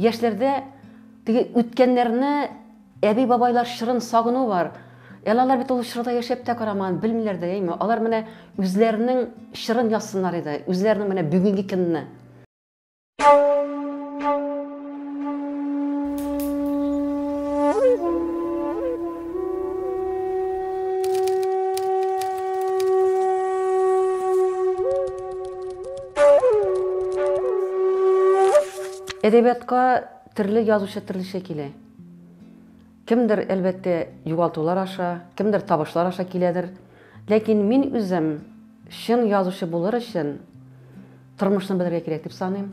Яшьләрдә теге үткәннәрне әби-бабайлар чорын сагыну бар. Әле алар бит ул чорда яшәп тә карамаган, белмиләр дә, әйме? Алар менә үзләренең чорын язсыннар иде, үзләренең менә бүгенге көнне. Әдәбиятка төрле язучы төрлечә килә. Кемдер, әлбәттә, югалтулар аша, кемдер табышлар аша киләдер. Ләкин мин үзем чын язучы булыр өчен тормышны белергә кирәк дип саныйм.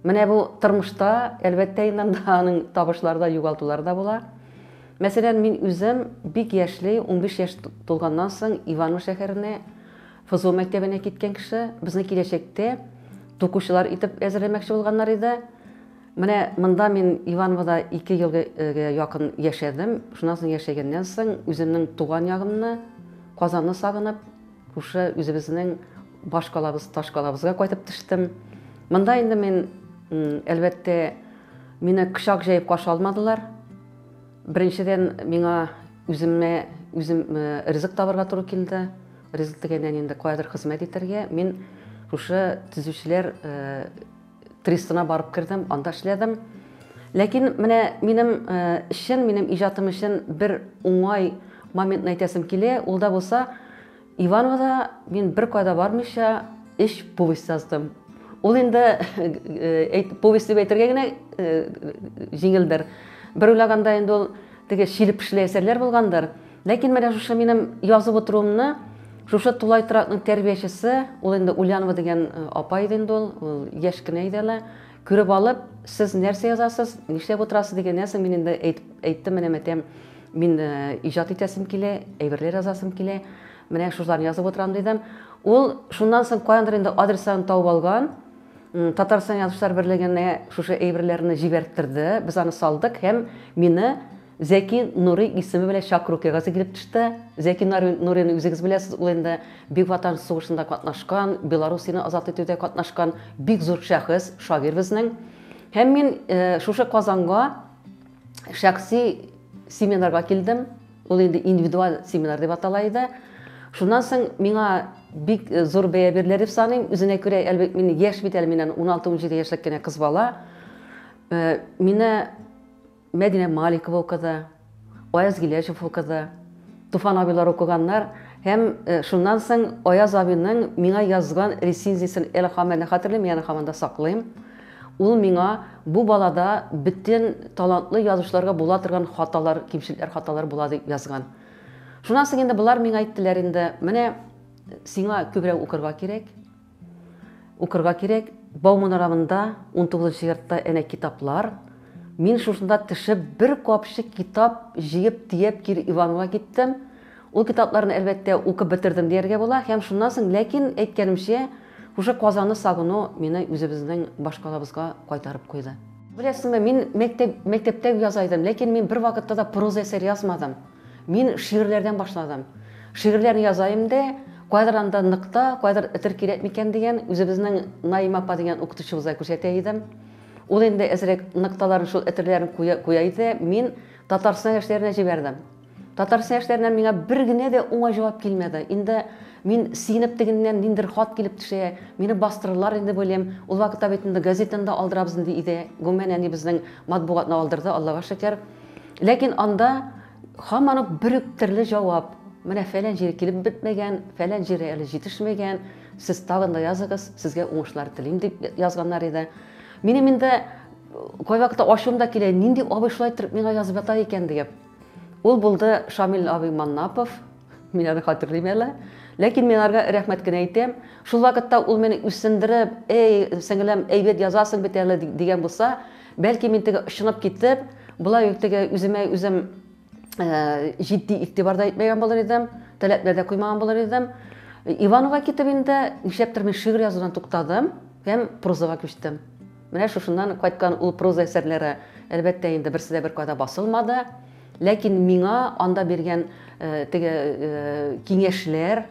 Менә бу тормышта, әлбәттә, инде анда аның табышлары да, югалтулары да була. Мәсәлән, мин үзем бик яшьли, 15 яшь тулганнан соң Иваново шәһәренә ФЗО мәктәбенә киткән кеше, безне киләчәктә тукучылар итеп әзерләмәкче булганнар иде. Менә монда мин Ивановода ике елга э, якын яшәдем. Шуннан соң яшәгәннән соң үземнең туган ягымны, Казанны сагынып, күрше үзебезнең баш калабыз, таш калабызга кайтып төштем. Монда инде мин, әлбәттә, мине кочак җәеп каршы алмадылар. Беренчедән, миңа үземә үзем ризык табарга туры килде. Ризык дигәндән инде каядыр хезмәт итәргә. Мин шушы төзүчеләр трестына барып кердем, анда эшләдем. Ләкин менә минем эшчән, минем иҗатым өчен бер уңай моментны әйтәсем килә. Ул да булса, Ивановода мин беркайда бармыйча өч повесть яздым. Ул инде э, повесть дип әйтергә генә э, җиңелдер. Бер уйлаганда инде ул теге шилеп пешеле әсәрләр булгандыр. Ләкин менә шушы минем язып утыруымны шушы тулай торакның тәрбиячесе, ул инде Ульянова дигән э, апа иде инде ул, ул яшь кенә иде әле. Күреп алып, сез нәрсә язасыз, нишләп утырасыз дигәннән соң, мин инде әйттем, менә мәтәм, мин э, иҗат итәсем килә, әйберләр язасым килә, менә шушыларны язып утырам дидем. Ул шуннан соң каяндыр инде адресларын табып алган, Татарстан язучылар берлегенә шушы әйберләрне җибәрттерде, без аны салдык һәм мине Зәки Нурый исеме белән чакыру кәгазе килеп төште. Зәки Нурыйны үзегез беләсез, ул инде Бөек Ватан сугышында катнашкан, Белоруссияне азат итүдә катнашкан бик зур шәхес, шагыйрь безнең. Һәм мин шушы Казанга шәхси семинарга килдем. Ул инде индивидуаль семинар дип атала иде. Шуннан соң миңа бик зур бәя бирелә дип саныйм. Үзенә күрә, әлбәттә, мин яшь бит әле, миннән 16-17 яшьлек кенә кыз бала. Мине Мәдинә Маликова укыды, Аяз Гиләҗев укыды, Туфан абыйлар укыганнар һәм шуннан соң Аяз абыйның миңа язган рецензиясен әле һаман да хәтерлим, аны һаман да саклыйм. Ул миңа бу балада бөтен талантлы язучыларга була торган хаталар, кимчелекләр, хаталар була дип язган. Шуннан соң инде болар миңа әйттеләр инде, менә сиңа күбрәк укырга кирәк. Укырга кирәк, Бауман урамында унтугызынчы йортта әнә китаплар. Мин шушында төшеп бер капчык китап җыеп төяп кире Иванова киттем. Ул китапларны әлбәттә укып бетердем дияргә була һәм шуннан соң, ләкин әйткәнемчә, шушы Казанны сагыну мине үзебезнең башкалабызга кайтарып куйды. Беләсеңме, мин мәктәп, мәктәптә яза идем, ләкин мин бервакытта да проза әсәр язмадым. Мин шигырьләрдән башладым. Шигырьләр язаем дә, кайдыр анда ныкта, кайдыр этер кирәк микән дигән, үзебезнең Наима апа дигән укытучыбызга күрсәтә идем. Ул инде әзрәк ныкталарын, шул этерләрен куя, куя иде. Мин Татарстан яшьләренә җибәрдем. Татарстан яшьләреннән миңа бер генә дә уңай җавап килмәде. Инде мин сигенеп тегеннән ниндер хат килеп төшә, мине бастырырлар инде уйлыйм. Ул вакытта бит инде газетаны да алдырабыз инде иде. Гомумән, әнибезнең матбугатны алдырды, Аллага шөкер. Ләкин анда һаман ук бер үк төрле җавап, менә фәлән җире килеп бетмәгән, фәлән җире әле җитешмәгән, сез тагын да языгыз, сезгә уңышлар телим, дип язганнар иде. Минем инде кайвакыта ачуым да килә, нинди абый шулай иттереп миңа язып ята икән диеп. Ул булды Шамил абый Маннапов. Мин аны хатерлим әле. Ләкин мин арга рәхмәт кенә әйтәм. Шул вакытта ул мине үсендереп, эй, сеңелем, әйбәт язасың бит әле дигән булса, бәлки мин теге ышынып китеп, болай ук теге үземә үзем э, җитди игътибар да итмәгән булыр идем, таләпләр дә куймаган булыр идем. Иванова китеп инде, нишләптер мин шигырь язудан туктадым һәм прозага күчтем. Менә шушыннан кайткан ул проза әсәрләре, әлбәттә инде, берсе дә беркайда басылмады. Ләкин миңа анда биргән теге киңәшләр,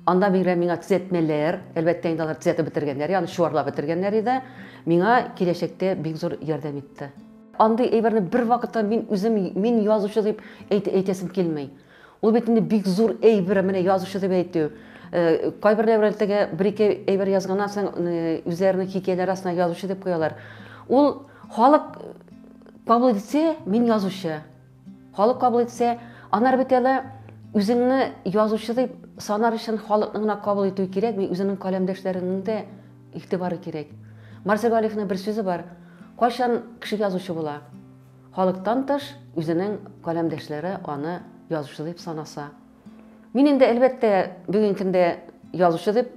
анда биргән миңа төзәтмәләр, әлбәттә инде алар төзәтеп бетергәннәр, аны чуарлап бетергәннәр иде, миңа киләчәктә бик зур ярдәм итте. Андый әйберне бервакытта мин үзем, мин язучы дип әйтәсем килми. Ул бит инде бик зур әйбер, менә язучы дип әйтү. Э, кайберләр белән теге бер-ике әйбер язганнан соң э, үзләренең хикәяләре астына язучы дип куялар. Ул халык кабул итсә, мин язучы. Халык кабул итсә, анар бит әле үзеңне язучы дип санар өчен халыкның гына кабул итүе кирәк, мин үзенең каләмдәшләренең дә игътибары кирәк. Марсель Галиевның бер сүзе бар. Кайчан кеше язучы була? Халыктан тыш, үзенең каләмдәшләре аны язучы дип санаса. Мин инде, әлбәттә, бүген көндә язучы дип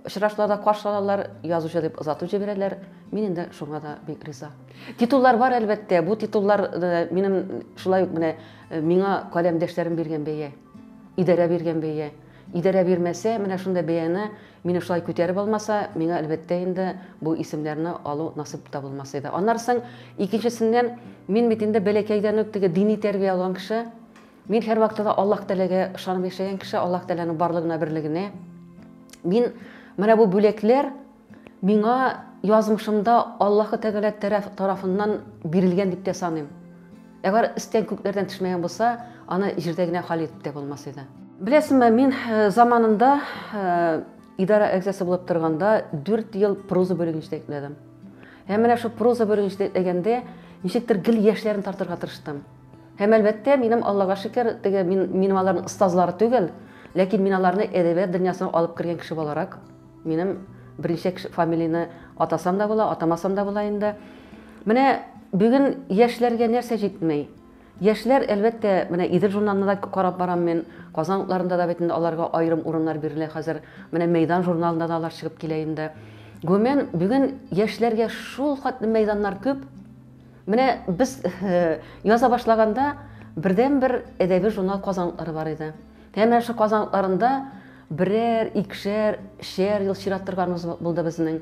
очрашуларда каршы алалар, язучы дип озатып җибәрәләр. Мин инде шуңа да бик риза. Титуллар бар, әлбәттә. Бу титуллар э, минем шулай ук менә э, миңа каләмдәшләрем биргән бәя. Идарә биргән бәя. Идарә бирмәсә, менә шундый бәяне Мине шулай күтәреп алмаса, миңа, әлбәттә инде, бу исемнәрне алу насыйп та булмас иде. Аннары соң, икенчесеннән, мин бит инде бәләкәйдән үк теге дини тәрбия алган кеше. Мин һәрвакытта да Аллаһ Тәгаләгә ышанып яшәгән кеше, Аллаһ Тәгаләнең барлыгына, берлегенә. Мин менә бу бүләкләр миңа язмышымда Аллаһ Тәгалә тарафыннан бирелгән дип тә саныйм. Әгәр стән күкләрдән төшмәгән булса, аны җирдә генә хәл итеп тә булмас иде. Беләсеңме, мин э, заманында э, идарә әгъзасы булып торганда 4 ел проза бүлеген җитәкләдем. Һәм менә шул проза бүлеген җитәкләгәндә ничектер гел яшьләрен тартырга тырыштым. Һәм әлбәттә, минем Аллага шөкер, теге мин минем аларның остазлары түгел, ләкин мин аларны әдәбият дөньясына алып кергән кеше буларак Минем берничә кеше фамилияне атасам да була, атамасам да була инде. Менә бүген яшьләргә нәрсә җитми? Яшьләр, әлбәттә, менә Идел журналында да карап барам мин, Казан утларында да бит инде аларга аерым урыннар бирелә хәзер. Менә Мәйдан журналында да алар чыгып килә инде. Гомумән, бүген яшьләргә шул хәтле мәйданнар күп. Менә без э, яза башлаганда бердәнбер әдәби журнал Казан утлары бар иде. Һәм менә шул Казан утларында Берәр, икшәр, шәр ел чират торганыбыз булды безнең.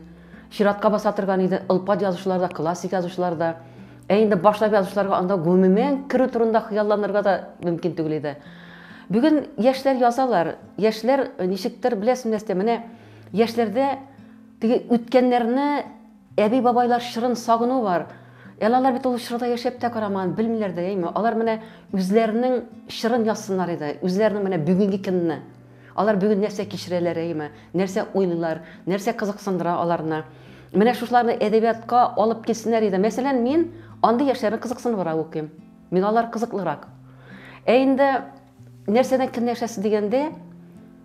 Чиратка баса торган иде ылпат язучылар да, классик язучылар да. Ә инде башлап язучыларга анда гомумән керү турында хыялланырга да мөмкин түгел иде. Бүген яшьләр язалар, яшьләр ничектер беләсең нәрсә, менә яшьләрдә теге үткәннәрне Әби-бабайлар чорын сагыну бар. Әле алар бит ул чорда яшәп тә карамаган, белмиләр дә, әйме? Алар менә үзләренең чорын язсыннар иде, үзләренең менә бүгенге көнне. Алар бүген нәрсә кичерәләр, әйме? Нәрсә уйлыйлар, нәрсә кызыксындыра аларны? Менә шушыларны әдәбиятка алып килсеннәр иде. Мәсәлән, мин андый яшьләрне кызыксыныбрак укыйм. Миңа алар кызыклырак. Ә инде нәрсәдән көнләшәсе дигәндә,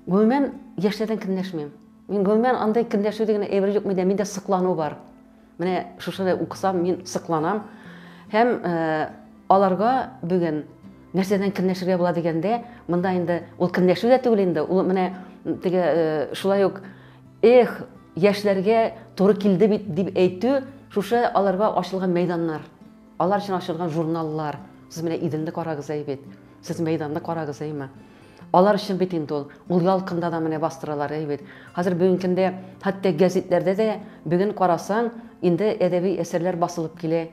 гомумән, яшьләрдән көнләшмим. Мин гомумән андый көнләшү дигән әйбер юк миндә, миндә соклану бар. Менә шушыны укысам, мин сокланам. Һәм э, аларга бүген нәрсәдән көнләшергә була дигәндә, монда инде ул көнләшү дә түгел инде, ул менә теге э, шулай ук эх, яшьләргә туры килде бит дип әйтү, шушы аларга ачылган мәйданнар. Алар өчен ачылган журналлар, сез менә Иделне карагыз әй бит, сез мәйданны карагыз әйме. Алар өчен бит инде ул, ул ялкында да менә бастыралар әй бит. Хәзер бүгенге көндә хәтта гәзитләрдә дә бүген карасаң, инде әдәби әсәрләр басылып килә.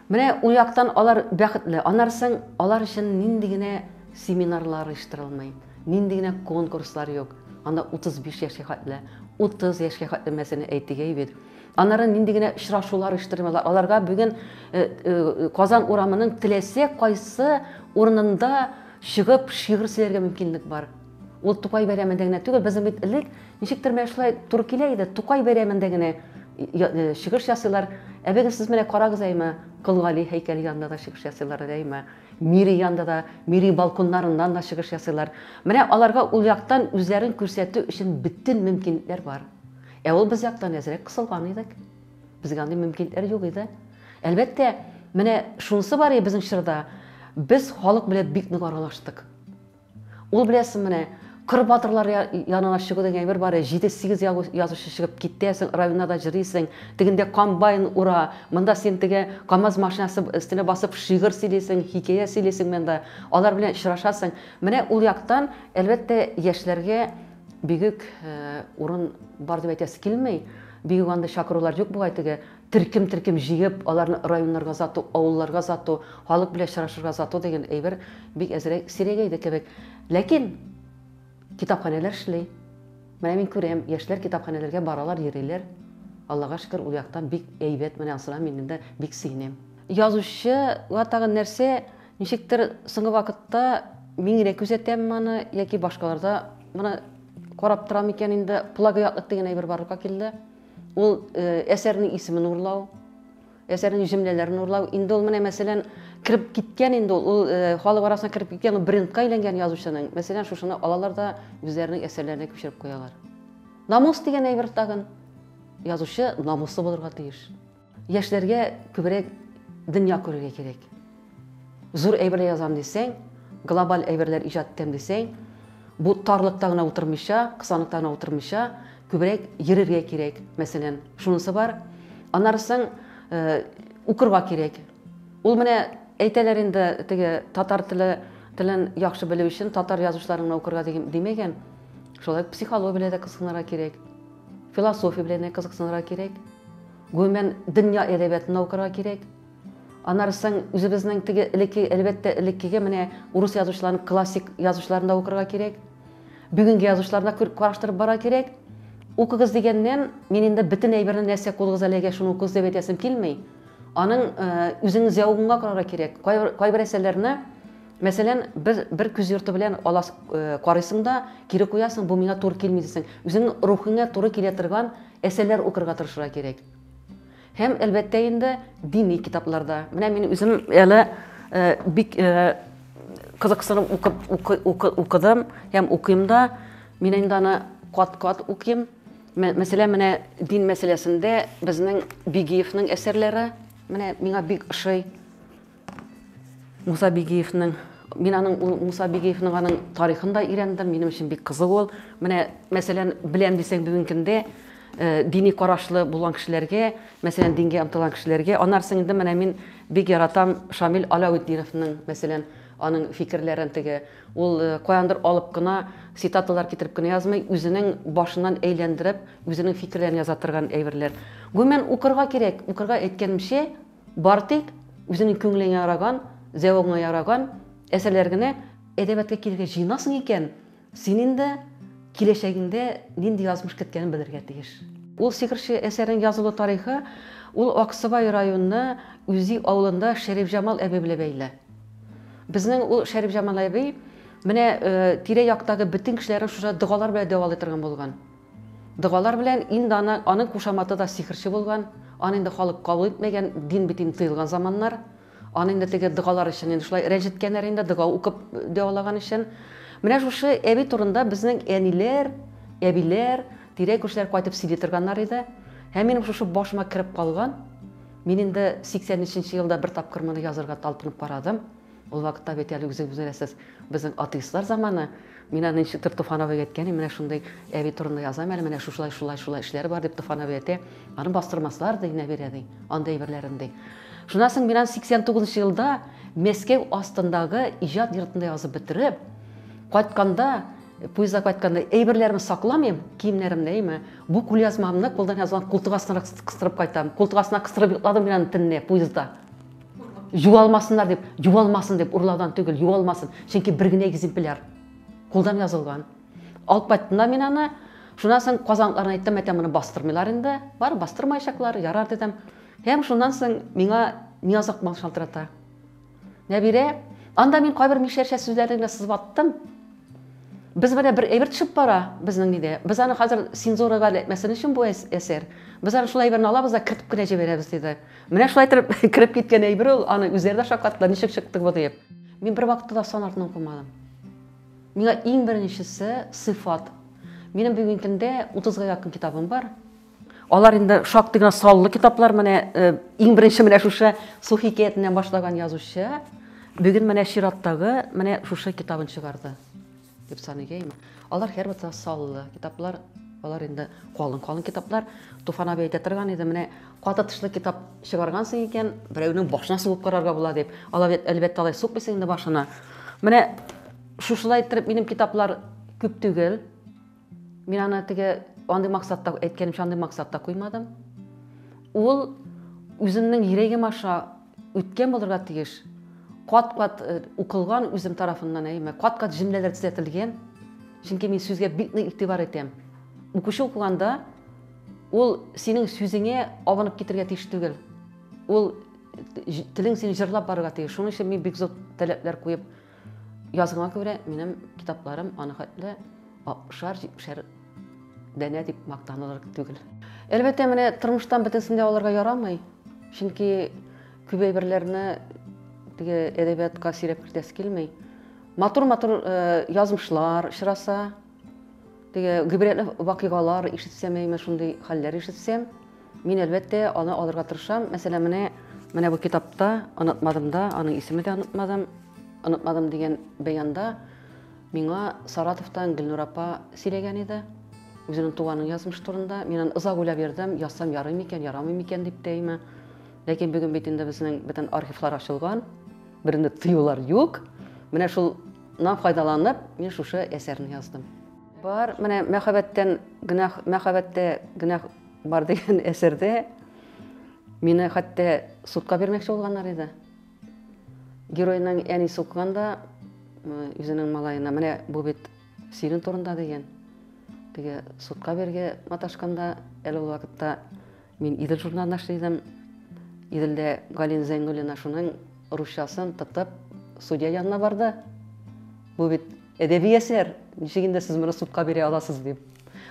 Менә ул яктан алар бәхетле. Аннары соң алар өчен нинди генә семинарлар оештырылмый, нинди генә конкурслар юк. Анда 35 яшькә хәтле, 30 яшькә хәтле мәсәлән әйтик әй бит. Аннары нинди генә очрашулар оештырмыйлар. Аларга бүген э, э, Казан урамының теләсә кайсы урынында чыгып шигырь сөйләргә мөмкинлек бар. Ул Тукай бәйрәмендә генә түгел, безнең бит элек ничектер менә шулай туры килә иде, Тукай бәйрәмендә генә э, чыгыш ясыйлар. Ә бүген сез менә карагыз әйме, Кол Гали һәйкәле янында да чыгыш ясыйлар әйме. Мири янында да, мири балконнарыннан да чыгыш ясыйлар. Менә аларга ул яктан үзләрен күрсәтү өчен бөтен мөмкинлекләр бар. Ә ул без яктан әзрәк кысылган идек. Безгә андый мөмкинлекләр юк иде. Әлбәттә, менә шунысы бар иде безнең чорда, без халык белән бик нык аралаштык. Ул беләсең менә Кыр батырлар янына чыгу дигән әйбер бар, 7-8 язучы чыгып китәсең, районнарда җырлыйсың, тегендә комбайн ура, монда син теге КАМАЗ машинасы өстенә басып шигырь сөйлисең, хикәя сөйлисең монда, алар белән очрашасың. Менә ул яктан, әлбәттә, яшьләргә Бигүк урын бар дип әйтәсе килми, бигүк андый чакырулар юк бугай, теге төркем-төркем җыеп, аларны районнарга озату, авылларга озату, халык белән очрашырга озату дигән әйбер бик әзрәк сирәгәйде кебек. Ләкин китапханәләр эшли. Менә мин күрәм, яшьләр китапханәләргә баралар, йөриләр. Аллага шөкер, ул яктан бик әйбәт, менә анысына мин инде бик сөенәм. Язучыга тагын нәрсә, Ничектер соңгы вакытта миңрәк күзәтәм моны яки башкаларда моны карап торам икән инде плагиатлык дигән әйбер барлыкка килде. Ул э, әсәрнең исемен урлау, әсәрнең җөмләләрен урлау. Инде ул менә мәсәлән кереп киткән инде ул, ул э, халык арасына кереп киткән ул брендка әйләнгән язучының. Мәсәлән, шушыны алалар да үзләренең әсәрләренә күчереп куялар. Намус дигән әйбер тагын язучы намуслы булырга тиеш. Яшьләргә күбрәк дөнья күрергә кирәк. Зур әйберләр язам дисәң, глобаль әйберләр иҗат итәм дисәң, бу тарлыкта гына утырмыйча, кысаныкта гына утырмыйча, күбрәк йөрергә кирәк, мәсәлән, шунысы бар. Аннарысын э, укырга кирәк. Ул менә әйтәләр инде теге татар теле телен яхшы белү өчен татар язучыларын гына укырга димәгән. Шулай психология белән дә кызыксынырга кирәк. Философия белән дә кызыксынырга кирәк. Гомумән, дөнья әдәбиятында укырга кирәк. Аннары соң үзебезнең теге элекке, әлбәттә, элеккеге менә урыс язучыларының классик язучыларын да укырга кирәк. Бүгенге язучыларны да караштырып барырга кирәк. Укыгыз дигәннән, мин инде бөтен әйберне нәрсә кулыгыз әлегә шуны укыгыз дип әйтәсем килми. Аның э, үзеңнең зәвыгыңа карарга кирәк. Кайбер, кайбер әсәрләрне Мәсәлән, бер, бер күз йорты белән алас, э, карыйсың да, кире куясың, бу миңа туры килми дисең. Үзеңнең рухыңа туры килә торган әсәрләр укырга тырышырга кирәк. Һәм, әлбәттә инде, дини китапларда. Менә мин үзем әле э, бик э, кызыксынып укып, укы, укы, укыдым һәм укыйм да. Мин инде аны кат-кат укыйм. Мәсәлән, менә дин мәсьәләсендә безнең Бигиевның әсәрләре менә миңа бик ошый. Муса Бигиевның, мин аның ул Муса Бигиевның аның тарихын да өйрәндем, минем өчен бик кызык ул. Менә, мәсәлән, беләм дисәң бүгенге көндә дини карашлы булган кешеләргә, мәсәлән, дингә омтылган кешеләргә, аннарсын инде менә мин бик яратам Шамил Аляутдиновның, мәсәлән, аның фикерләрен теге. Ул каяндыр алып кына цитаталар китереп кенә язмый, үзенең башыннан әйләндереп, үзенең фикерләрен яза торган әйберләр. Гомумән, укырга кирәк, укырга әйткәнемчә, Бары тик үзеңнең күңелеңә яраган, зәвыгыңа яраган әсәрләр генә әдәбиятка килергә җыенасың икән, син инде киләчәгеңдә нинди язмыш көткәнен белергә тиеш. Ул сихерче әсәренең язылу тарихы ул Аксубай районы Үзи авылында Шәрифҗамал әби белән бәйле. Безнең ул Шәрифҗамал әби менә тирә-яктагы бөтен кешеләрне шушы догалар белән дәвалый торган булган. Догалар белән инде аны, аның кушаматы да сихерче булган, аны инде халык кабул итмәгән, дин бит инде тыелган заманнар, аны инде теге догалар өчен инде шулай рәнҗеткәннәр инде, дога укып дәвалаган өчен. Менә шушы әби турында безнең әниләр, әбиләр, тирә-күршеләр кайтып сөйли торганнар иде. Һәм минем шушы башыма кереп калган, мин инде 83 нче елда бер тапкыр моны язырга талпынып карадым. Ул вакытта бит әле үзегез беләсез, безнең атеистлар заманы. Мин аны ничектер Туфановага әйткән, менә шундый әби турында язам әле, менә шушылай, шулай, шулай эшләре бар, дип Туфанов әйтә. Аны бастырмаслар, ди, Нәбирә, ди, андый әйберләрен, ди. Шуннан соң мин аны 89 елда Мәскәү астындагы иҗат йортында язып бетереп, кайтканда, поездда кайтканда әйберләремне сакламыйм, киемнәремне, әйме, бу кулъязмамны кулдан язган култык астына кыстырып кайтам. Култык астына кыстырып йокладым мин аны төнне поездда. Юалмасыннар дип, юалмасын дип, урлаудан түгел, юалмасын. Чөнки бер генә экземпляр. Кулдан язылган. Алып кайттым мин аны. Шуннан соң казанларына әйттем, әйтәм, моны бастырмыйлар инде. Бар, бастырмаячаклар, ярар дидем. Һәм шуннан соң миңа Нияз Акмал шалтырата. Нәбирә, анда мин кайбер мишәрчә сүзләрне генә сызып аттым. Без менә бер әйбер төшеп бара безнең нидә. Без аны хәзер цензурага эләкмәсен өчен бу әсәр. Без аны шул әйберне алабыз да кертеп кенә җибәрәбез диде. Менә шулай итеп кереп киткән әйбер ул, аны үзләре дә шаккаттылар, ничек чыктык бу диеп. Мин бер вакытта да сан артын укымадым. Миңа иң беренчесе сыйфат. Минем бүген көндә 30-га якын китабым бар. Алар инде шактый гына саллы китаплар, менә э, иң беренче менә шушы Су хикәятеннән башлаган язучы бүген менә чираттагы менә шушы китабын чыгарды. Дип саныйм. Алар һәрвакыт саллы китаплар, алар инде калын-калын китаплар. Туфан абый әйтә торган иде, менә каты тышлы китап чыгаргансың икән, берәүнең башына сугып карарга була дип. Алар бит әлбәттә алай сукмыйсың инде башына. Менә шушылай иттереп минем китаплар күп түгел. Мин аны теге андый максатта әйткәнемчә андый максатта куймадым. Ул үземнең йөрәгем аша үткән булырга тиеш. Кат-кат э, укылган үзем тарафыннан әйме, кат-кат җөмләләр төзәтелгән. Чөнки мин сүзгә бик нык игътибар итәм. Укучы укыганда ул синең сүзеңә абынып китергә тиеш түгел. Ул телең сине җырлап барырга тиеш. Шуның өчен мин бик зур таләпләр куеп Язгыма күрә, минем китапларым аны хәтле 60-70 дәнә дип мактанылыр түгел. Әлбәттә, менә тормыштан бөтенсен дә алырга ярамый. Чөнки күп әйберләрне теге әдәбиятка сөйрәп кертәсе килми. Матур-матур э, язмышлар очраса, Теге гыйбрәтле вакыйгалар ишетсәм, әйме шундый хәлләр ишетсәм, мин әлбәттә аны алырга тырышам. Мәсәлән, менә менә бу китапта онытмадым да, аның исеме дә онытмадым. Онытмадым дигән бәянда миңа Саратовтан Гөлнур апа сөйләгән иде. Үзенең туганын язмыш турында. Мин аны озак уйлап йөрдем, язсам ярый микән, ярамый микән дип тә әйме. Ләкин бүген бит инде безнең бөтен архивлар ачылган. Берне тыюлар юк. Менә шул Нан файдаланып, мин шушы әсәрне яздым. Бар, менә мәхәббәттән гөнаһ, мәхәббәттә гөнаһ бар дигән әсәрдә мине хәтта судка бирмәкче булганнар иде. Геройның әни сукканда үзенең малаена, менә бу бит синең турында дигән. Теге судка бергә маташканда әле ул вакытта Мин Идел журналында эшли идем. Иделдә Галина Зәйнуллина шуның русчасын тотып судья янына барды. Бу бит әдәби әсәр. Ничек инде сез моны судка бирә аласыз дип.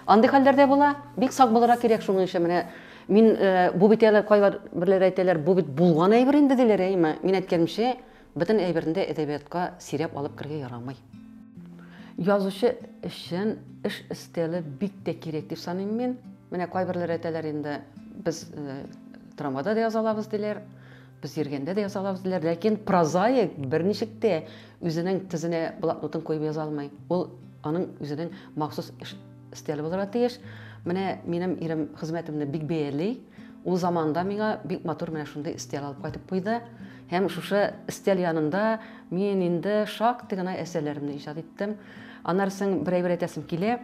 Андый хәлләрдә була. Бик сак булырга кирәк шуның өчен менә мин э, бу бит әле кайлар берләр әйтәләр, бу бит булган әйбер инде диләр, әйме? Мин әйткәнемчә, Бөтен әйберне дә әдәбиятка сөйрәп алып керергә ярамый. Язучы өчен эш өстәле бик тә кирәк дип саныйм мин. Менә кайберләр әйтәләр инде, без э, трамвайда да яза алабыз диләр, без йөргәндә дә яза алабыз диләр, ләкин прозаик берничек тә үзенең тезенә блокнотын куеп яза алмый. Ул аның үзенең махсус эш өстәле булырга тиеш. Менә минем ирем хезмәтемне бик бәяли. Ул заманда миңа бик матур менә шундый өстәл алып кайтып куйды. Һәм шушы өстәл янында мин инде шактый гына әсәрләремне иҗат иттем. Аннары соң берәй бер әйтәсем килә.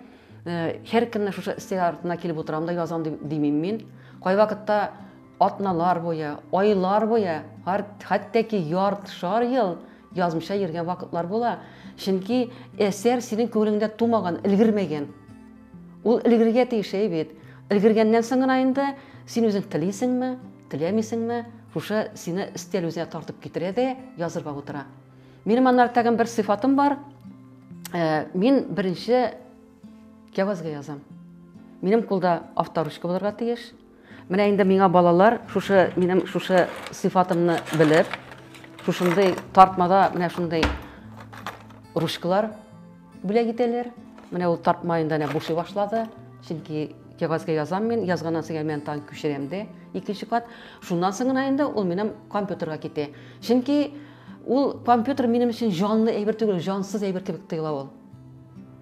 Һәркемне шушы өстәл артына килеп утырам да язам димим мин. Кайвакытта атналар буе, айлар буе, хәтта ки ярт шар ел язмыша йөргән вакытлар була. Чөнки әсәр синең күңелеңдә тумаган, өлгермәгән. Ул өлгергә тиеш бит. Өлгергәннән соң гына инде син үзең телисеңме, Теләмисеңме, шушы сине өстәл үзенә тартып китерә дә язырга утыра. Минем аннары тагын бер сыйфатым бар. Э, мин беренче кәвазга язам. Минем кулда авторучка булырга тиеш. Менә инде миңа балалар шушы минем шушы сыйфатымны белеп, шушындый тартмада менә шундый ручкалар Бүләк итәләр. Менә ул тартмаен да бушый башлады. Чөнки кәгазьгә язам мин, язганнан соң мин тагын күчерәм дә икенче кат. Шуннан соң гына инде ул минем компьютерга китә. Чөнки ул компьютер минем өчен җанлы әйбер түгел, җансыз әйбер кебек тоела ул.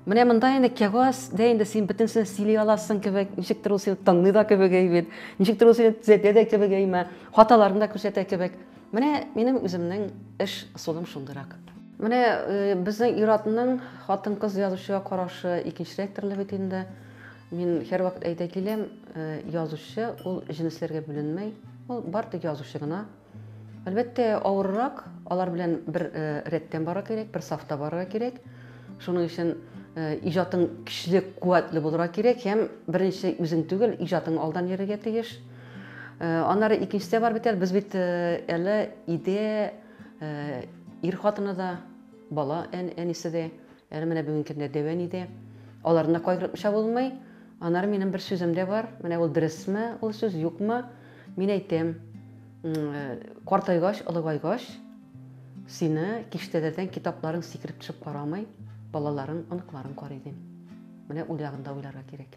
Менә монда инде кәгазьдә инде син бөтенесен сөйли аласың кебек, ничектер ул сине тыңлый да кебек әйбит, ничектер ул сине төзәтә дә кебек әйме, хаталарын да күрсәтә кебек. Менә минем үземнең эш ысулым шундыйрак. Менә э, безнең ир-атның хатын-кыз язучыга карашы икенчерәк төрле бит инде. Мин һәрвакыт әйтә киләм, э, язучы ул җенесләргә бүленмәй, ул бар тик язучы гына. Әлбәттә, авыррак, алар белән бер э, рәттән барырга кирәк, бер сафта барырга кирәк. Шуның өчен иҗатың көчле, куәтле булырга кирәк һәм беренче үзең түгел, иҗатың алдан йөрергә тиеш. Аннары икенчесе дә бар бит әле. Без бит әле иде ир хатыны да, бала әнисе дә, әле менә бүгенге көндә дәвән иде. Аларны да кайгыртмыйча булмый. Аннары минем бер сүзем дә бар. Менә ул дөресме, ул сүз юкмы? Мин әйтәм, картайгач, олыгайгач, сине киштәләрдән китапларың сикереп төшеп карамый, балаларың, оныкларың карый дим. Менә ул ягында уйларга кирәк.